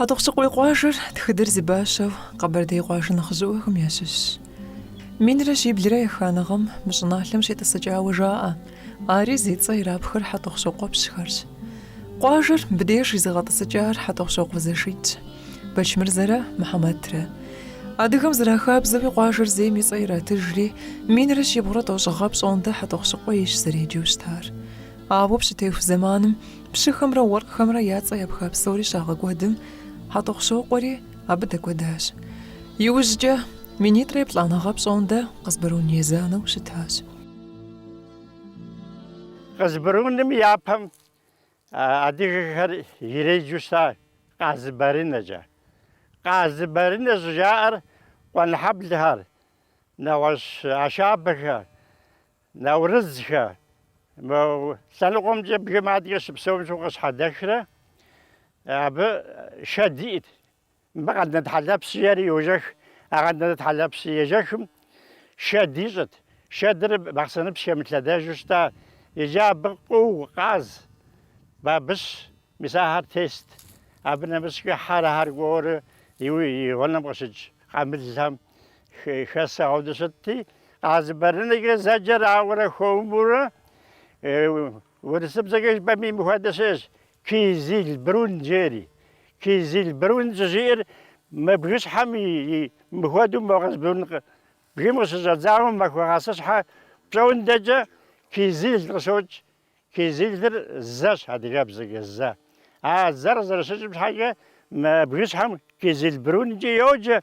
Хьэтӏохъущыкъуей къуажэр тхыдэр зи бащэу Къэбэрдей къуажэ нэхъыжьыӏуэхэм ящыщщ. Минрэ щиблрэ еханэ гъэм мы щӏыналъэм щитӏысыкӏауэ жаӏэ, ари зи цӏэ ирапхэр Хьэтӏохъущокъуэпщхэрщ. Къуажэр мыбдеж изыгъэтӏысыкӏар Хьэтӏохъущокъуэ зэшитӏщ, Бэчмырзэрэ Мухьэмэтрэ. Адыгэм зэрахабзэуи къуажэр зейм и цӏэ иратыжри, минрэ щибгъурэ тӏощӏ гъэ пщӏондэ Хьэтӏохъущыкъуейщ зэреджэу щытар. Ауэ пщытеху зэманым пщыхэмрэ уэркъхэмрэ я цӏэ епха псори щагъэкӏуэдым, Хьэтӏохъущокъуэри абы дэкӏуэдащ. Иужькӏэ минитӏрэ еплӏанэ гъэ пщӏондэ Къызбэрун езанэу щытащ. Къызбэруным и япэм адыгэхэр иреджэу щыта Къазыбэрынэкӏэ. Къазыбэрынэ щӏыжаӏэр Къуэнхьэблэхэр, нэгъуэщӏ Ашабэхэ. Наурызхэ. Мы лъэныкъуэмкӏэ бгым адыгэ щыпсэум щыгъуэ къыщхьэдэхрэ, абы шэд иӏт. Мыбы Къэндэнэт хьэлэпс жиӏэри йожэх. А Къэндэнэт хьэлэпс ежэхым шэд ищӏырт. Шэдыр Бахъсэныпс хэмылъэдэжу щыта. Иджы абы къыу, къаз, бабыщ, мис ахэр тест. Абы нэмыщӏкӏэ хьэрыхэр кӏуэурэ и гъунэм къыщыкӏ къамылхэм. хэсэгъуэу дыщытти, къазыбэрынэкӏэ зэджэр ауэрэ хуэмурэ урысыбзэкӏэ жыпӏэми мыхуэдэ щыӏэщ, Кизилбрун жери. Кизилбрун щӏыжиӏэр мы бгыщхьэм и мыхуэдэу мо Къызбрун бгым къыщыщӏэдзауэ Махуэгъэпсыщхьэ пщӏоундэкӏэ кизил къыщокӏ, Кизилыр зэщ, адыгэбзэкӏэ зэ. А зэр къызэрыщыкӏым щхьэкӏэ мы бгыщхьэм Кизилбрункӏэ йоджэ.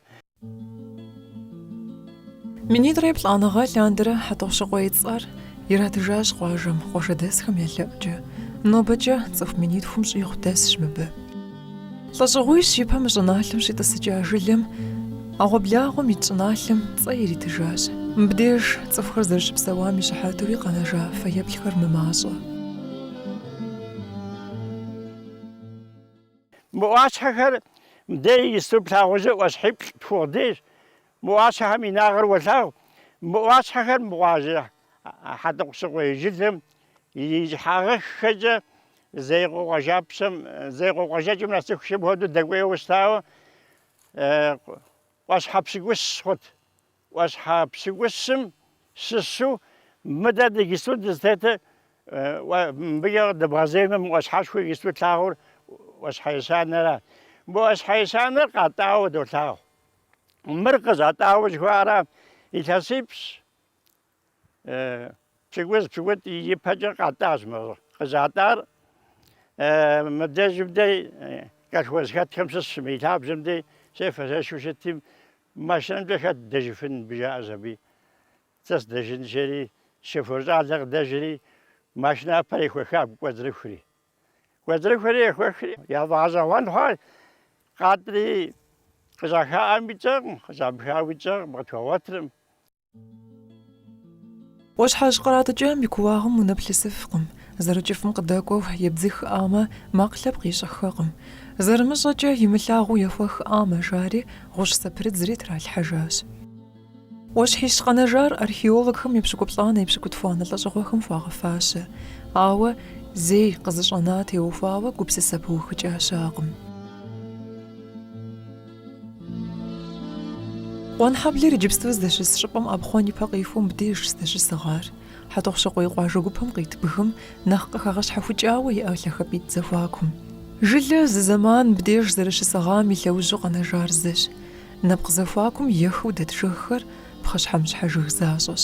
Минитӏрэ еплӏанэ гъэ лъандэрэ Хьэтӏохъущыкъуей цӏэр иратыжащ къуажэм, къуажэдэсхэм я лъэӏукӏэ. Нобэкӏэ цӏыху минитхум щӏигъу дэсщ мыбы. Лӏэщӏыгъуищ и пэм щӏыналъэм щитӏысыкӏа жылэм ӏэгъуэблагъэм ит щӏыналъэм цӏэ иритыжащ. Мыбдеж цӏыхухэр зэрыщыпсэуам и щыхьэтуи къэнэжа фэеплъхэр мымащӏэ. Мы ӏуащхьэхэр мыдэ иджыпсту плъагъужу ӏуащхьиплӏ тхугъ деж. Мы ӏуащхьэхэм я инагъыр уолъагъу. Мы ӏуащхьэхэр мыгъуажэ. Хьэтӏохъущыкъуей жылэм и щхьэгъэххэкӏэ Зеикъуэ къуажапщэм, Зеикъуэ къуажэкӏэм нэсыхукӏэ мыхуэдэу дэкӏуейуэ щытауэ ӏуащхьэ пщыкӏущ хъут. ӏуащхьэ пщыкӏущым щыщу мыдэ дэ иджыпсту дызытетыр, мыбыкӏэ къыдэбгъэзеймэ мы ӏуащхьэшхуэ иджыпсту тлъагъур ӏуащхьэ ещанэра. Мы ӏуащхьэ ещанэр къатӏауэ долъагъу. Мыр къыщатӏауэ жыхуаӏэра илъэсипщӏ. Пщыкӏуз пщыкӏутӏ ипэкӏэ къатӏащ мыр къыщатӏар. Мыбдежым дей колхоз хэтхэм щысщ мы и лъабжьэм дей щефэ-щешхэу щытим, машинэмкӏэ хэт дэжыфын мыбы жаӏэщ аби. Сэ сдэжын жери, шофер щӏалэ къыдэжри, машинапэр ехуэха абы кӏуэцӏрыхури. Кӏуэцӏрыхури ехуэхри, я фӏэгъэщӏэгъуэн хъуащ, къатӏри къыщӏахаӏами тщӏэкъым, къыщӏамыхауи тщӏэкъым, къытхуэгъуэтыркъым. Ӏуащхьэжь къратӏыкӏам и кууагъым унэплъысыфкъым, зэрыкӏыфӏым къыдэкӏуэу ебдзыхыӏамэ, макъ лъэпкъ ищӏыххэкъым. Зэрымыщӏэкӏэ, имылъагъуу ехуэхыӏамэ жари, гъущӏ зэпрыдзри тралъхьэжащ. Ӏуащхьищ къэнэжар археологхэм епщыкӏуплӏанэ епщыкӏутхуанэ лӏэщӏыгъуэхэм хуагъэфащэ, ауэ зей къызыщӏэна теухуауэ гупсысэ пыухыкӏа щыӏэкъым. Къуэнхьэблэр иджыпсту здэщыс щӏыпӏэм ӏэпхъуэн ипэ къихуэу мыбдеж здэщысыгъар. Хьэтӏохъущыкъуей къуажэ гупэм къит бгым нэхъ къыхэгъэщхьэхукӏауэ иӏэ лъагапӏитӏ зэхуакум. Жылэ зы зэман мыбдеж зэрыщысыгъам и лъэужьу къэнэжар зыщ. Нэпкъ зэхуакум ехыу дэт жыгхэр пхъэщхьэмыщхьэ жыг защӏэщ.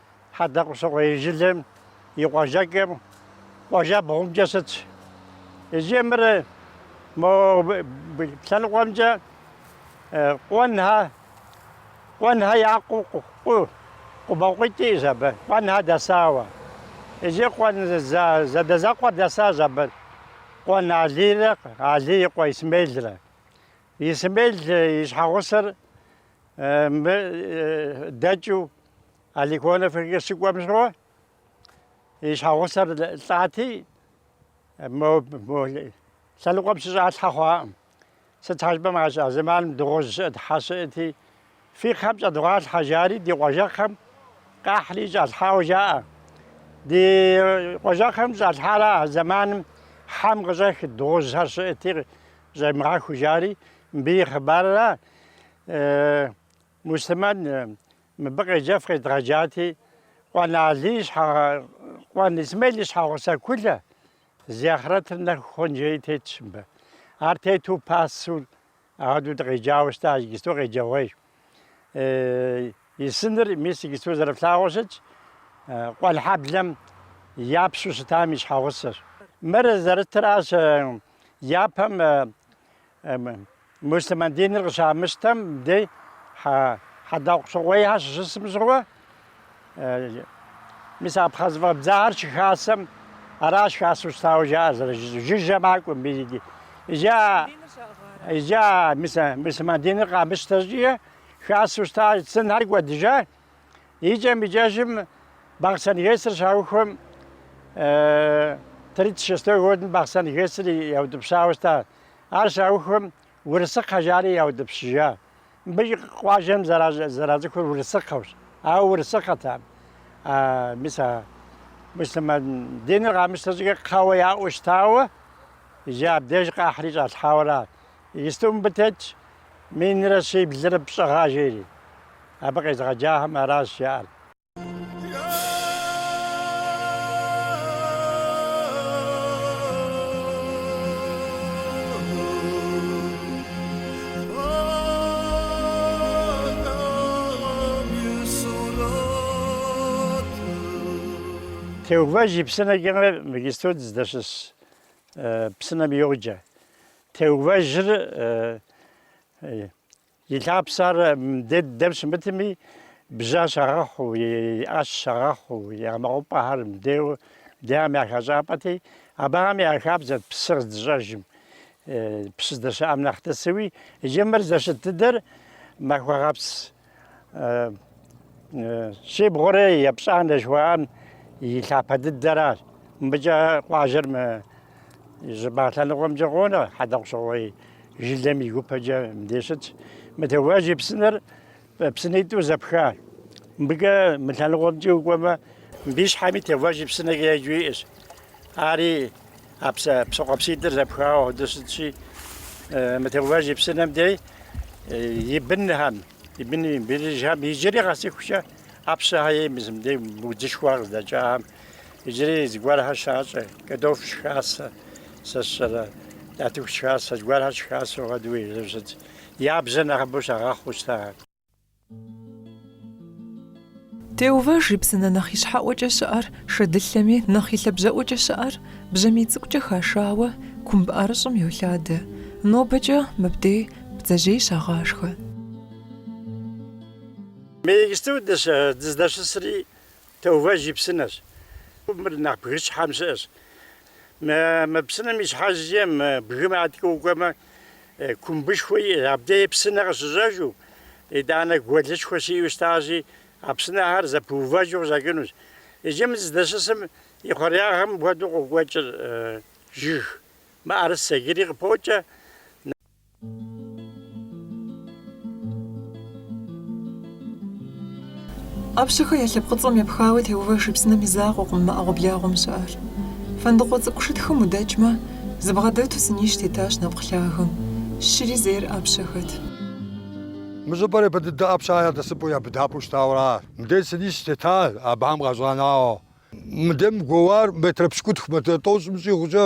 Хьэтӏохъущыкъуей жылэм и къуажэкӏэм къуажэбгъумкӏэ щытщ иджы мыр, мо лъэныкъуэмкӏэ Къуэнхэ, Къуэнхэ я къу, къу, къубэкъуитӏ иӏэщ абы, Къуэнхэ дэсауэ. Иджы Къуэн зэ, зэадэзэкъуэ дэсащ абы, Къуэн Алийрэ Алий и къуэ Исмелрэ. Исмел и щхьэгъусэр мы дэкӏыу Аликонов щыкӏуэм щыгъуэ и щхьэгъусэр лӏати, мо лъэныкъуэм щыщӏалъхьэ хъуакъым. Сыт щхьэ жыпӏэмэ, а зэманым дыгъужь щыӏэт, хьэ щыӏэти, фи кхъэм щӏэдывгъалъхьэ, жари ди къуажэкхъэм къахьри щӏалъхьауэ жаӏэ. Ди къуажэкхъэм щӏалъхьара а зэманым хьэм къыщӏэх дыгъужьхэр щыӏэти, щӏемыгъэху жари, мыбы и хъыбарра? Муслъымэн мыбы къеджэф къедгъэджати, Къуэн Алий Къуэн Исмел и щхьэгъусэ Кулэ, зи ахърэтыр нэху хъун жери тетщ мыбы. Ар тету пасэу апхуэдэу дыкъеджауэ щытащ, иджысту къеджэгъуейщ. И сыныр, мис, иджысту зэрыфлъагъуу щытщ, Къуэнхьэблэм я пщу щытам и щхьэгъусэщ. Мыр зэрытращ япэм Муслъымэн диныр къыщамыщтэм дей Хьэтӏохъущыкъуейхэр щыщысым щыгъуэ, мис а пхъэ зэфӏэбдзахэр щыхасэм аращ хасэу щытауэ жаӏэр зэрыжызу, жыжьэ макӏуэм. Иджы а муслъымэн диныр къамыщтэ щӏыкӏэ, хасэу щыта сынхэр кӏуэдыжа, Икӏэм-икӏэжым Бахъсэн ГЭС-р щаухуэм, тридцать шестой годым Бахъсэн ГЭС-р яутӏыпщауэ щыта. Ар щаухуэм Урысыкхъэ жари яутӏыпщыжа. Мыбыкӏ къуажэм зэрацӏыхур Урысыкхъэущ, ауэ Урысыкхъэтэкъым. Мис а муслъымэн диныр къамыщтэ щӏыкӏэ кхъэуэ яӏэу щытауэ, иджы абдеж къахьри щӏалъхьауэ ара. Иджыпсту мыбы тетщ минрэ щиблрэ пщӏы гъэ жери. Абы къезыгъэджахэм аращ жаӏэр. Теувэж и псынэкӏэ мы иджыпсту дыздэщыс псынэм йоджэ. Теувэжыр и лъапсэр мыдей дыдэм щымытми, бжьэ щагъэхъуу, и ӏэщ щагъэхъуу, я мэкъупӏэхэр мдеуэ дейм я хэщӏапӏэти, абыхэм я хабзэт псы къыздыщӏэжым, псы здэщыӏэм нэхъ тӏысыуи. Иджы мыр здэщыт дыдэр Махуэгъэпс Щибгъурэ епщӏанэ жыхуаӏэм и лъапэ дыдэращ. Мыбыкӏэ къуажэр мы щӏыбагъ лъэныкъуэмкӏэ къонэ, Хьэтӏохъущыкъуей жылэм и гупэкӏэ мыбдеж щытщ. Мы Теувэж и псынэр псынитӏу зэпхащ. Мыбыкӏэ мы лъэныкъуэмкӏэ укӏуэмэ, мыбы и щхьэми Теувэж и псынэкӏэ еджэу иӏэщ. Ари А псэ, псы къуэпситӏыр зэпхауэ хуэдэу щытщи, мы Теувэж и псынэм дей и бынхэм, и бын быныжхэм иджыри къэсыхукӏэ Ӏэпщэхэ ей мис мыбдей удзышхуэ къыздэкӏахэм иджыри зыгуэрхэр щащӏэ, кӏэртӏоф щыхасэ, сэ сщӏэрэ, нартыху щыхасэ, зыгуэрхэр щыхасэу хуэдэу езыр щытщ. Я бжьэр нэхъыбэу щагъэхъуу щытахэ. Теувэж и псынэ нэхъ и щхьэӏуэкӏэ щыӏэр шэдылъэми, нэхъ и лъабжьэӏуэкӏэ щыӏэр бжьамий цӏыкӏукӏэ хашауэ кумб ӏэрыщӏым йолъадэ. Нобэкӏэ мыбдей бдзэжьей щагъашхэ. Мы иджыпсту дыздэщысри Теувэж и псынэщ. Мыр нэхъ бгыщхьэм щыӏэщ. Мы псынэм и щхьэкӏэ мы бгым адэкӏэ укӏуэмэ, кумбышхуэ иӏэщ. Абдеи псынэ къыщыщӏэжу, итӏанэ гуэлышхуэ щыӏэу щытащи, а псынэхэр зэпыувэжу къыщӏэкӏынущ. Иджы мы зыдэщысым и хъуреягъым хуэдэу къокӏуэкӏыр жыг мыӏэрысэ, иджыри къыпокӏэ. ӏэпщэхэ я лъэпкъыцӏэм епхауэ Теувэж и псынэм и закъуэкъым мы ӏэгъуэблагъэм щыӏэр. Фэндыкъуэ цӏыкӏу шытхым удэкӏмэ, зыбгъэдэту сынищ тетащ нэпкъ лъагэм. Щыри зейр ӏэпщэхэт. Мы щӏыпӏэр япэ дыдэ ӏэпщэхэ я дэсыпӏэу, я быдапӏэу щытауэ ара? Мыдей сынищ тета абыхьэм къащӏанауэ. Мыдейм гуэуар метрэ пщыкӏутху, метрэ тӏощӏым щӏигъукӏэ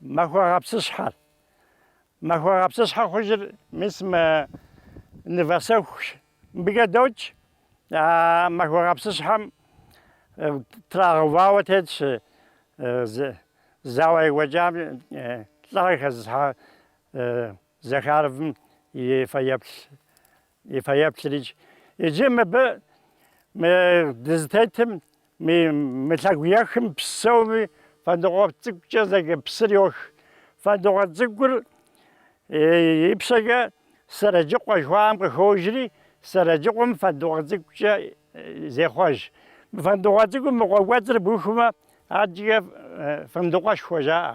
Махуэгъэпсыщхьэр. Махуэгъэпсыщхьэ хъужыр мис мы нывэсэхущ. Мыбыкӏэ докӏ, а махуэгъэпсыщхьэм трагъэувауэ тетщ зауэ екӏуэкӏам лӏыгъэ зезыхьа Захаровым и фэеплъ, и фэеплърикӏ. Иджы мыбы мы дызытетым Мы лъэгу ехым псоми Фэндыкъуэ цӏыкӏукӏэ зэджэ псыр йох. Фэндыкъуэ цӏыкӏур ипщэкӏэ Сэрэджыкъуэ жыхуаӏэм къыхожри, Сэрэджыкъуэм Фэндыкъуэ цӏыкӏукӏэ зехъуэж. Фэндыкъуэ цӏыкӏум мы къуэ кӏуэцӏыр бухмэ, адэкӏэ Фэндыкъуэшхуэ жаӏэ.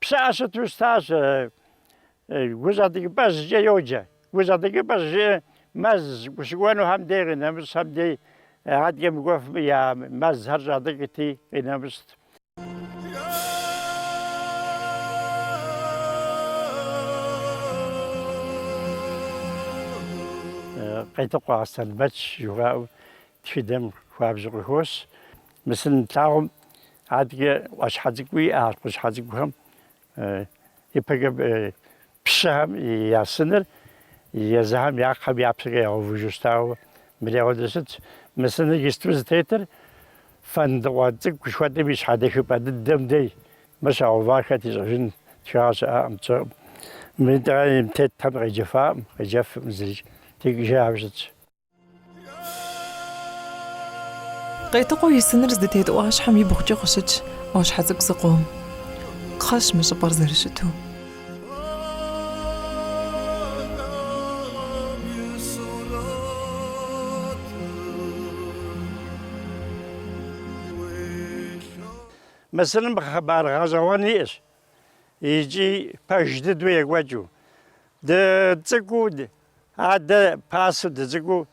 Пщыӏэ щыту щытащ, гущӏэтӏыкӏыпӏэжькӏэ йоджэ. Гущӏэтӏыкӏыпӏэ жи мэз щыкӏуэнухэм дей къинэмыщӏхэм дей адэкӏэ мыкӏуэфым я мэзхэр щӏатӏыкӏти, къинэмыщӏт. Къетыкъуэ Аслъэнбэч жыхуаӏэу тхыдэм хуабжьу къыхощ. Мы сын тлъагъум адэкӏэ ӏуащхьэ цӏыкӏуи иӏащ, кхъащхьэ цӏыкӏухэм ипэкӏэ пщыхэм я сыныр езыхэм я кхъэм я пщэкӏэ ягъэувыжу щытауэ мыри апхуэдэ щытщ. Мы сыныр иджысту зытетыр фэндыкъуэ цӏыкӏу жыхуэтӏэм и щхьэдэхыпӏэ дыдэм дей. Мыр щагъэувар хэт ищӏэжын тхыгъэ щыӏэкъым, тщӏэкъым. Мыдейм тетхам къеджэфакъым, къеджэфыркъым зыри, текӏыжауэ щытщ. Къетыкъуэ и сыныр здытет ӏуащхьэм и бгъукӏэ къыщытщ ӏуащхьэ цӏыкӏу зыкъом. Кхъэщ мы щӏыпӏэр зэрыщыту. Мы сыным хъыбар гъэщӏэгъуэн иӏэщ икӏи пэж дыдэу екӏуэкӏыу. Дыцӏыкӏуу Адэ пасэу дыцӏыкӏуу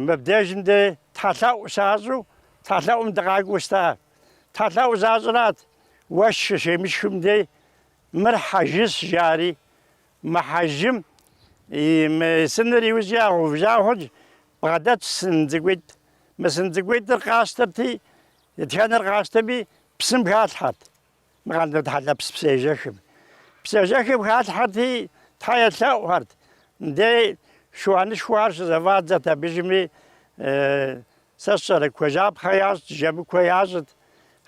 мыбдежым дэ тхьэлъэӏу щащӏу тхьэлъэӏум дыкъакӏуэу щыта. Тхьэлъэӏу защӏырат, уэшх щыщемышхым дей, мыр хьэжыщ жари. Мы хьэжым и мы сыныр иужькӏэ ягъэувыжа хъунщ, бгъэдэтщ сын цӏыкӏуитӏ. Мы сын цӏыкӏуитӏыр къащтэрти, дэтхэнэр къащтэми, псым халъхьэрт. Мы Къардэн тхьэлэпс псыежэхым. Псыежэхым халъхьэрти, Тхьэ елъэӏухэрт. Мыдей шыуанышхуэхэр щызэфӏадзэрт абдежми. Сэ сщӏэрэ, кхъуейжьапхъэ ящӏт, жэмыкуэ ящӏт,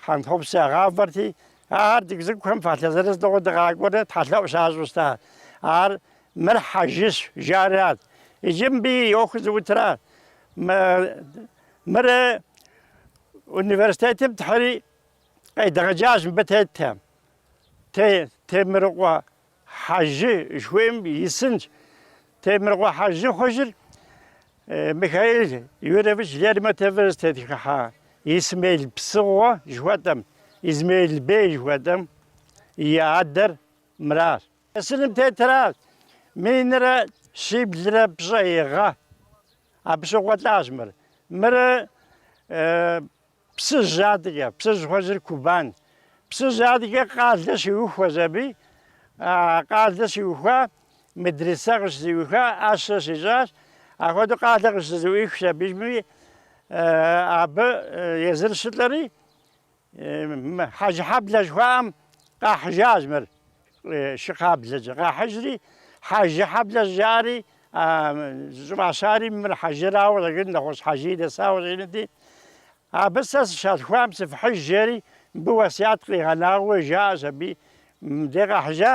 хьэнтхъупс ягъавэрти, ахэр дыгу цӏыкӏухэм фалъэ зырыз тӏыгъыу дыкъакӏуэрэ тхьэлъэӏу щащӏу щыта. Ар мыр хьэжыщ жаӏэрат. Иджы мыбы и ӏуэхур зыӏутра? Мырэ университетым тхьри? Къедгъэджащ мыбы тетхэм. Те, Темрыкъуэ Хьэжы жыхуаӏэм и сынщ. Темрыкъуэ Хьэжы хъужыр Михаил Юрьевич Лермонтовыр зытетхыхьа Исмел Псыгъуэ жыхуэтӏэм, Измеил бей жыхуэтӏэм и адэр мыращ. Сыным тетращ минрэ щиблрэ пщӏей гъэ. Абы щыгъуэ лӏащ мыр. Мыр Псыжь адэкӏэ, Псыжь хъужыр Кубан. Псыжь адэкӏэ къалэ щиухуащ абы. Къалэ щиухуа, медресэ къыщызэӏуиха, ӏэщэ щищӏащ. Ахуэдэу къалэ къыщызэӏуихащ абдежми, абы езыр щылӏэри, Хьэжыхьэблэ жыхуаӏэм къахьыжащ мыр. Шы кхъаблэкӏэ къахьыжри, Хьэжыхьэблэ щӏыжаӏэри, щӏыфӏащари, мыр хьэжырауэ къыщӏэкӏынут, нэгъуэщӏ хьэжыи дэсауэ къыщӏэкӏынути, абы сэ сыщалъхуам сыфхьыж, жери мыбы уэсят къигъэнауэ жаӏэщ аби, мыбдеж къахьыжа.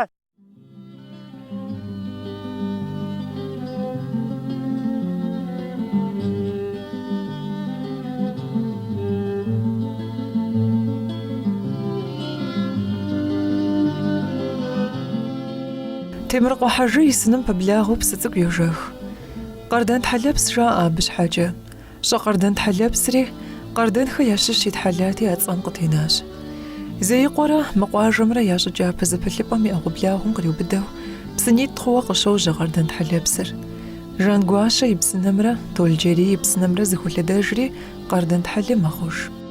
Темрыкъуэ Хьэжы и сыным пэблагъэу псы цӏыкӏу йожэх. Къардэн тхьэлэпс жаӏэ абы щхьэкӏэ. Пщӏэ къардэн тхьэлэпсри, къардэнхэ ящыщ итхьэлати а цӏэр къытенащ. Зеикъуэрэ мы къуажэмрэ я щӏы кӏапэ зэпылъыпӏэм и ӏэгъуэблагъэм къриубыдэу псынитӏ хъууэ къыщожьэ къардэн тхьэлэпсыр. Жангуащэ и псынэмрэ Толджэрий и псынэмрэ зэхолъэдэжри къардэн тхьэлэ мэхъуж.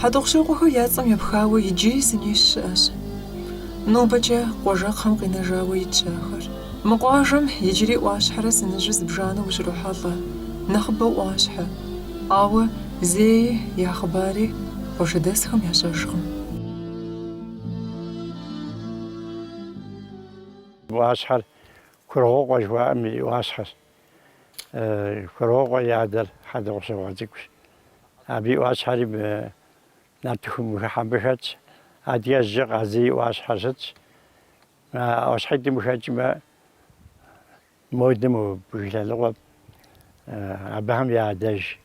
Хьэтӏохъущокъуэхэр я цӏэм епхауэ иджыри сынищ щыӏэщ. Нобэкӏэ къуажэкхъэм къинэжауэ итщ ахэр. Мы къуажэм иджыри ӏуащхьэрэ сыныжьу зыбжанэу ущрохьэлӏэ, нэхъыбэу ӏуащхьэ. Ауэ зеи я хъыбари къуажэдэсхэм ящӏэжкъым. ӏуащхьэр Кургъуокъуэ жыхуаӏэм и ӏуащхьэщ. Кургъуокъуэ и адэр Хьэтӏохъущокъуэ цӏыкӏущ. Абы и ӏуащхьэри нартыху мыхыхьэм къыхэтщ. Адэжкӏэ Къазий и ӏуащхьэ щытщ. ӏуащхьитӏым къыхэкӏмэ, модым бгылъэлӏыкъуэп. Абыхэм я адэжь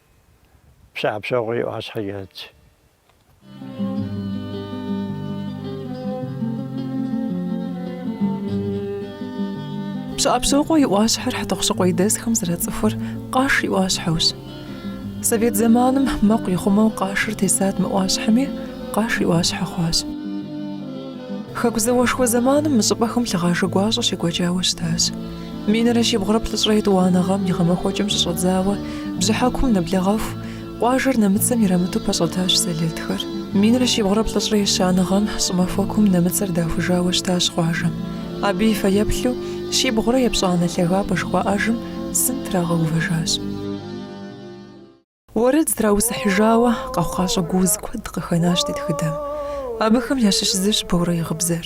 Пщыӏэпщокъуэ и ӏуащхьэ итщ. Пщыӏэпщокъуэ и ӏуащхьэр Хьэтӏохъущыкъуей дэсхэм зэрацӏыхур Къаш и ӏуащхьэущ. Совет зэманым мэкъу ихъумэу Къашыр тесат мы ӏуащхьэми, Къаш и ӏуащхьэ хъуащ. Хэку зауэшхуэ зэманым мы щӏыпӏэхэм лъыгъажэ гуащӏэ щекӏуэкӏауэ щытащ. Минрэ щибгъурэ плӏыщӏрэ етӏуанэ гъэм и гъэмахуэкӏэм щыщӏэдзауэ бжьыхьэкум нэблэгъэху Къуажэр нэмыцэм ирамыту пэщӏэтащ сэлэтхэр. Минрэ щибгъурэ плӏыщӏрэ ещанэ гъэм щӏымахуэкум нэмыцэр дахужауэ щытащ къуажэм. Абы и фэеплъу щибгъурэ епщӏанэ лъагапӏэ жыхуаӏэжым сын трагъэувэжащ. Уэрэд зытраусыхьыжауэ къэхъукъащӏэ гууз куэд къыхэнащ ди тхыдэм. Абыхэм ящыщ зыщ Борэ и гъыбзэр.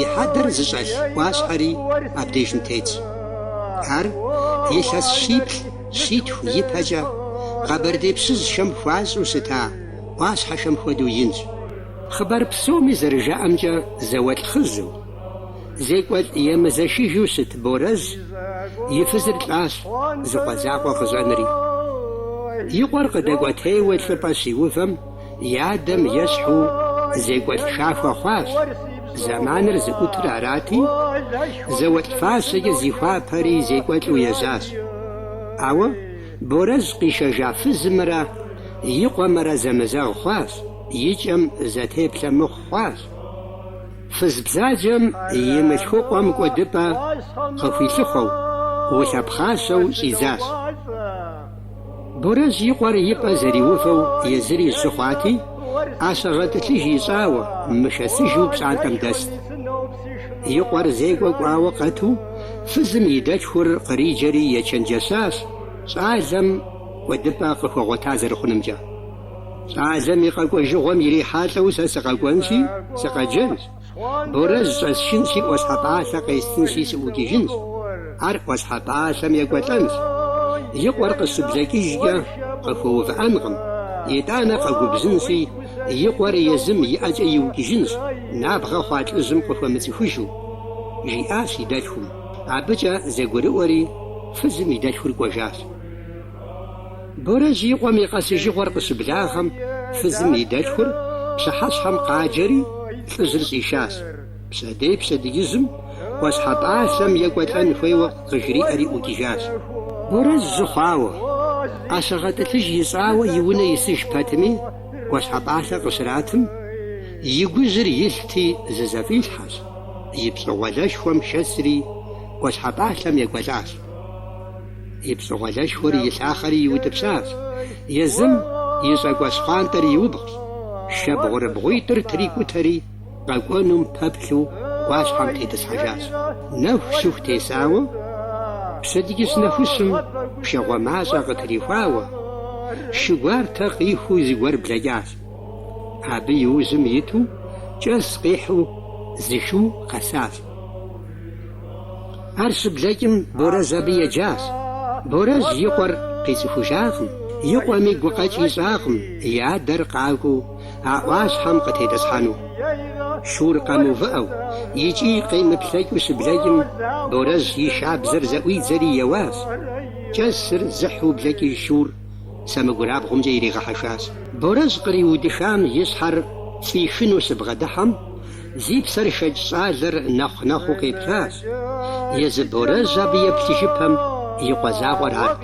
и хьэдэр зыщӏэлъ ӏуащхьэри абдежым тетщ. Ар илъэс щиплӏ щитху ипэкӏэ къэбэрдей пщыжьхэм хуащӏу щыта ӏуащхьэхэм хуэдэу инщ. Хъыбар псоми зэрыжаӏэмкӏэ зауэлӏ хъыжьу, зекӏуэлӏ емызэшыжу щыт Борэжь и фызыр лӏащ зы къуэ закъуэ къыщӏэнри. И къуэр къыдэкӏуэтейуэ лӏыпӏэ щиувэм, И адэм ещхьу зекӏуэлӏ хахуэ хъуащ, зэманыр зыӏутыр арати, зауэлӏ фащэкӏэ зихуапэри зекӏуэлӏу ежьащ. Ауэ Борэжь къишэжа фызымрэ и къуэмрэ зэмызэгъ хъуащ, и кӏэм зэтеплъэ мыхъу хъуащ. Фыз бзаджэм и мылъхукъуэм кӏуэдыпӏэ къыхуилъыхъуэу, улъэпхъащэу щӏидзащ. Борэжь и къуэр и пӏэ зэриувэу езыри жьы хъуати, ӏэщэ гъэтӏылъыж ищӏауэ, мышэсыжу пщӏантӏэм дэст. И къуэр зекӏуэ кӏуауэ къэту, фызым и дэлъхур къриджэри ечэнджэщащ щӏалэм кӏуэдыпӏэ къыхуэгъуэта зэрыхъунымкӏэ. Щӏалэм и къэкӏуэжыгъуэм ирихьэлӏэу сэ сыкъэкӏуэнщи, сыкъэджэнщ. Борэжь щӏэсшынщи, ӏуащхьэпӏалъэ къестынщи сыӏукӏыжынщ, ар ӏуащхьэпӏалъэм екӏуэлӏэнщ. И къуэр къыщыблэкӏыжкӏэ къыхуэувыӏэнкъым, итӏанэ къэгубжьынщи, и къуэр езым и ӏэкӏэ иукӏыжынщ, набгъэ хъуа лӏыжьым къыхуэмыцӏыхужу, жиӏащ и дэлъхум. Абыкӏэ зэгурыӏуэри, фызым и дэлъхур кӏуэжащ. Борэжь и къуэм и къэсыжыгъуэр къыщыблагъэм, фызым и дэлъхур пщыхьэщхьэм къаджэри, лӏыжьыр щӏишащ. Пщэдей пщэдджыжьым ӏуащхьэ пӏалъэм екӏуэлӏэн хуейуэ къыжриӏэри ӏукӏыжащ. Борэжь жьы хъуауэ, ӏэщэгъэтӏылъыж ищӏауэ и унэ исыж пэтми, ӏуащхьэ пӏалъэ къыщратым, и гужьыр илъти зызэфӏилъхьэщ, и пщӏэгъуэлэшхуэм шэсри ӏуащхьэ пӏалъэм екӏуэлӏащ. И пщӏэгъуэлэшхуэр илъахъэри иутӏыпщащ, езым и щӏакӏуэ щхъуантӏэр иубгъущ. Шэбгъурыбгъуитӏыр трикӏутэри, къэкӏуэнум пэплъу ӏуащхьэм тетӏысхьэжащ. Нэху щыху тесауэ, пщэдджыжь нэхущым пшагъуэ мащӏэ къытрихуауэ, шы гуартэ къихуу зыгуэр блэкӏащ. Абы и ужьым иту кӏэс къихьу зы шу къэсащ. Ар щыблэкӏым Борэжь абы еджащ. Борэжь и къуэр къицӏыхужакъым, и къуэми гукъэкӏ ищӏакъым и адэр къакӏуэу а ӏуащхьэм къытетӏысхьэну. Шур къэмыувыӏэу икӏи къемыплъэкӏыу щыблэкӏым, Борэжь и шабзэр зэӏуидзэри еуащ. Кӏэсыр зыхьу блэкӏыж шур сэмэгурабгъумкӏэ иригъэхьэхащ. Борэжь къриудыхам и щхьэр фӏихыну щыбгъэдыхьэм, Зи псэр хэкӏ щӏалэр нэхъу-нэхъуу къеплъащ, езы Борэжь абы еплъыжыпэм и къуэ закъуэр арт.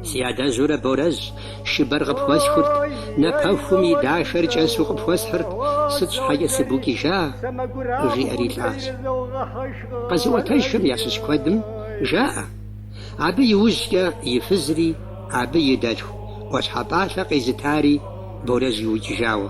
Си адэжьурэ Борэжь шыбэр къыпхуэсхурт, напэхум и дахэр кӏэсу къыпхуэсхьырт, сыт щхьэкӏэ сыбукӏыжа? жиӏэри лӏащ. Къэзыӏуэтэжхэм ящыщ куэдым жаӏэ, абы иужькӏэ и фызри абы и дэлъху ӏуащхьэ пӏалъэ къезытари Борэжь иукӏыжауэ.